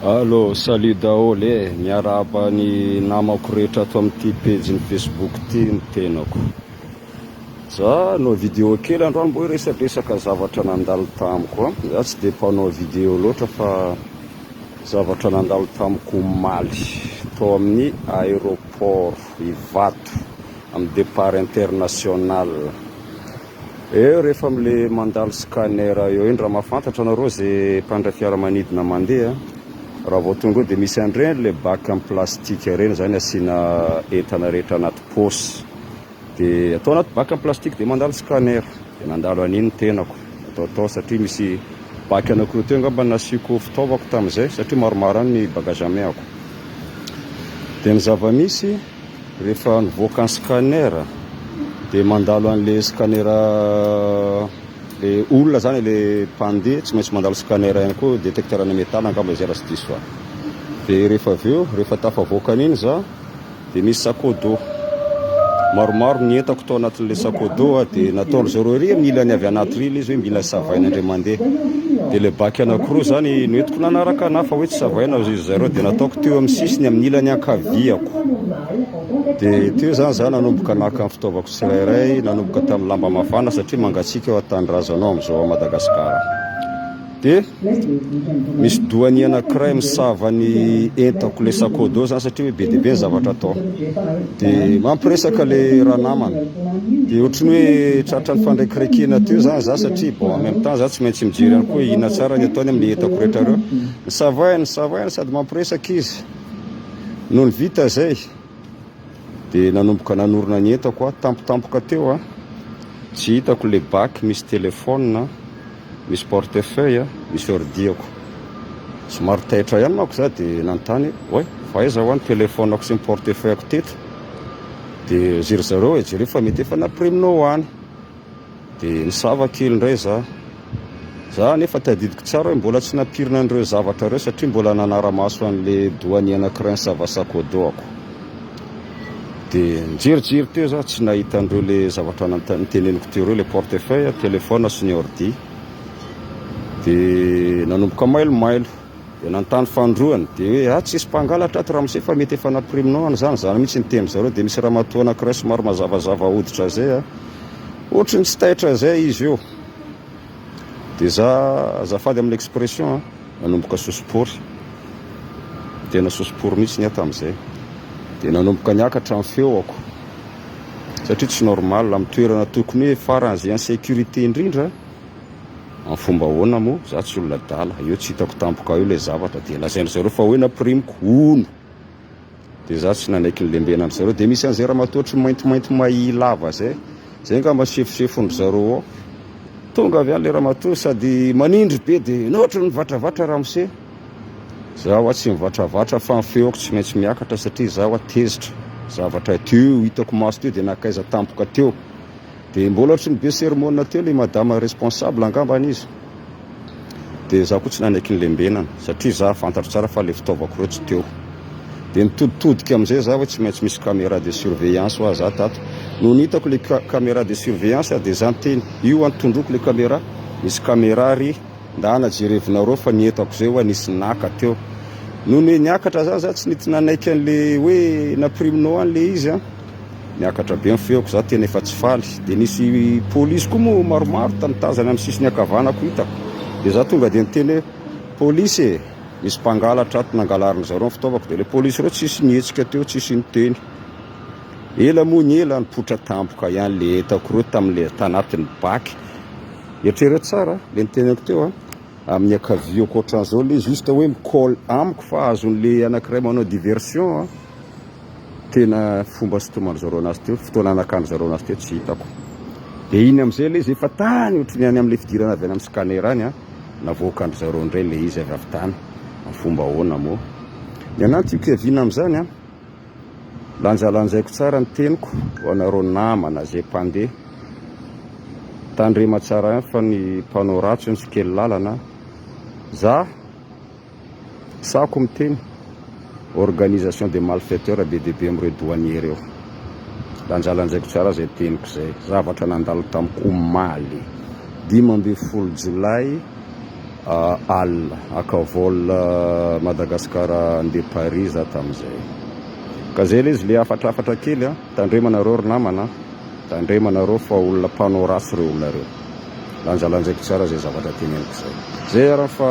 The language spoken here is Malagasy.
Allo, salut daholo e! Miarahaba ny namako rehetra ato amin'ity pejy ny Facebook ity ny tenako. Za hanao vidéo kely androany mba hoe resadresaka zavatra nandalo tamiko a! Za tsy dia mpanao vidéo loatra fa zavatra nandalo tamiko omaly tao amin'ny aéroport Ivato amin'ny départ international. Eo rehefa amle mandalo scanner eo iny raha mahafantatra nareo ze mpandray fiaramanidina mandeha raha vao tonga eo de misy anreny le bac am plastique reny zany asiana entana rehetra anaty paosy de atao anaty bac am plastique de mandalo scanner de nandalo aniny ny tenako atao tao satria misy bac anakiroa teo angamba nasiako fitaovako tamzay satria maromaro any ny bagage à main ako de ny zava misy Rehefa nivoaka ny scanner dia mandalo an'ilay scanner ilay olona izany ilay mpandeha tsy maintsy mandalo scanner ihany koa détecteur ana métal angamba izay raha tsy diso ahy. Dia rehefa avy eo rehefa tafavoaka an'iny izaho dia nisy sac au dos maromaro ny entako tao anatin'ilay sac au dos ah dia nataon-dry zareo ery amin'ny ilany avy anaty ry ilay izy hoe mila savaina indray mandeha dia ilay bac anankiroa izany no entiko nanaraka an'ahy fa hoe tsy savaina izy Zareo dia nataoko teo amin'ny sisiny amin'ny ilany ankaviako. Dia teo izany izaho nanomboka naka ny fitaovako tsirairay, nanomboka tamin'ny lamba mafana satria mangatsiaka eo an-tanindrazanao amin'izao ao Madagasikara. Dia misy doanie anankiray misava ny entako ilay sakôdy eo izany satria hoe be dia be ny zavatra atao. Dia mampiresaka ilay ranamana. Dia ohatry ny hoe tratra ny fandrekirekena teo izany izaho satria bon en même temps izaho tsy maintsy mijery ihany koa hoe inona tsara ny ataony amin'ny entako rehetra ireo. Nisavaina nisavaina sady mampiresaka izy. Nony vita izay dia nanomboka nanorina ny entako aho, tampotampoka teo a. Tsy hitako ilay bac misy téléphone, misy portefeuille, misy ordiako. Somary taitra ihany manko za dia nanontany hoe oay fa aiza hoa ny téléphone-ako sy ny portefeuille-ako teto? Dia zry zareo hoe jereo fa mety efa nampiremina ho any. Dia nisava kely indray za. Za anefa tadidiko tsara hoe mbola tsy nampirina an'ireo zavatra ireo satria mbola nanara-maso an'ilay douanier anankiray nisava sakodoako. Dia nijerijery teo za, tsy nahita an'ireo le zavatra noteneniko teo ireo, le portefeuille, telephone sy ny ordi. Dia nanomboka mailomailo. Dia nanontany Fanindroany, dia hoe, Ah, tsisy mpangalatra ato Ramose fa mety efa nampiriminao any izany, izany mihitsy ny tenin-dry zareo, dia misy ramatoa anankiray somary mazavazava hoditra izay an, ohatry ny tsy taitra izay izy io, dia za, azafady amin'ny expression an, nanomboka sosopory, tena sosopory mihitsy ny ahy tamin'izay, dia nanomboka niakatra ny feoko, satria tsy normal, amin'ny toerana tokony hoe faran'izay insécurité indrindra, Amin'ny fomba ahoana moa? Izaho tsy olona adala, eo tsy hitako tampoka eo ilay zavatra, dia lazain-dry zareo fa hoe nampirimiko hono, dia izaho tsy nanaiky ny lembenan-dry zareo, dia misy an'izay ramatoa ohatry ny maintimainty mahia lava izay, izay angamba sefosefon-dry zareo ao, tonga avy any ilay ramatoa sady manindry be dia ohatry ny mivatravatra ramose, izaho hoa tsy mivatravatra fa ny feoko tsy maintsy miakatra satria izaho hoa tezitra, zavatra teo hitako maso teo dia nankaiza tampoka teo, Dia mbola ohatry ny be sermona teo ilay madama responsable angambany izy. Dia izaho koa tsy nanaiky ny lembenana, satria izaho fantatro tsara fa ilay fitaovako ireo tsy teo. Dia nitoditodika amin'izay izaho hoe tsy maintsy misy caméra de surveillance ho ahy izaho tato. Nony hitako ilay caméra de surveillance aho dia izaho niteny, io an, tondroiko ilay caméra, misy caméra ry, ndana jerevinareo fa ny entako izay ho'a nisy naka teo. Nony niakatra izany izaho tsy nety nanaiky an'ilay hoe nampiriminao an ilay izy an. Niakatra be ny feoko, za tena efa tsy faly. Dia nisy polisy koa moa maromaro tany tazany amin'ny sisiny ankavanako hitako. Dia za tonga dia niteny hoe, polisy e, misy mpangalatra ato, nangalarin-dry zareo ny fitaovako. Dia ilay polisy ireo tsisy nihetsika teo, tsisy niteny. Ela moa ny ela, nipoitra tampoka ihany ilay entako ireo tamin'ilay tanatin'ny baky. Eritrereto tsara ilay niteneniko teo an. Amin'ny ankaviako ohatran'izao ilay izy, juste hoe mi-call amiko fa azon'ilay anankiray manao diversion an. Tena fomba sitoman-dry zareo anazy teo, fotoana anakan-dry zareo anazy teo tsy hitako. Dia iny amin'izay ilay izy efa tany ohatry ny any amin'ilay fidirana avy any amin'ny scanner any an, navoakan-dry zareo indray ilay izy avy avy tany. Amin'ny fomba ahoana moa? Ny anahy no tiako hiaviana amin'izany an. Lanjalanjaiko tsara ny teniko ho anareo namana izay mpandeha. Tandrema tsara ihany fa ny mpanao ratsy hono tsy kely lalana an. Za. Sahako miteny, organisation de malfaiteurs be dia be amin'ireo douaniers ireo. Lanjalanjaiko tsara izay teniko izay. Zavatra nandalo tamiko omaly dimy ambin'ny folo jolay alina, haka vol Madagascar handeha Paris za tamin'izay. Ka izay ilay izy ilay hafatrafatra kely an! Tandrema nareo ry namana an! Tandrema nareo fa olona mpanao ratsy ireo olona ireo. Lanjalanjaiko tsara izay zavatra teneniko izay. Izay ary an fa.